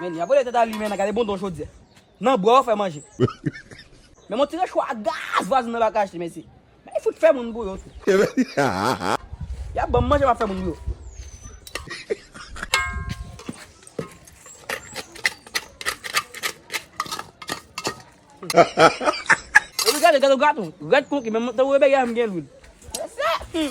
Men li a bole tèt a li menna gade bon don chodyè nan bwa ou fè manje men mon ti rechò a gaz vwazin nan baka achte mesi men li fout fè moun pou yo tou yap banm manje map fè moun pou yo. Epi gade gato graton rèd konki menm tankou rebèyè a menm gen lwil. Mesye!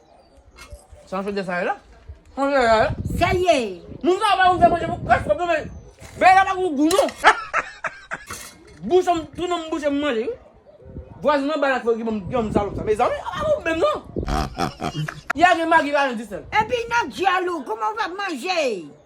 Sa yon fede sa ye la? Sa yon fede sa ye la? Sa l ye? Moun sa yo pa konn fè manje pou kras pwòp non men bagay la pa gen gou non. Bouch m tounen m bouche m manje wi. Vwazin nan bay lakòl ki ban m granmoun salòp sa. Mezanmi sa pa bon menm non. Y'a gen magi pa gen disèl. Epi nan dyòl ou kouman w fè ap manje?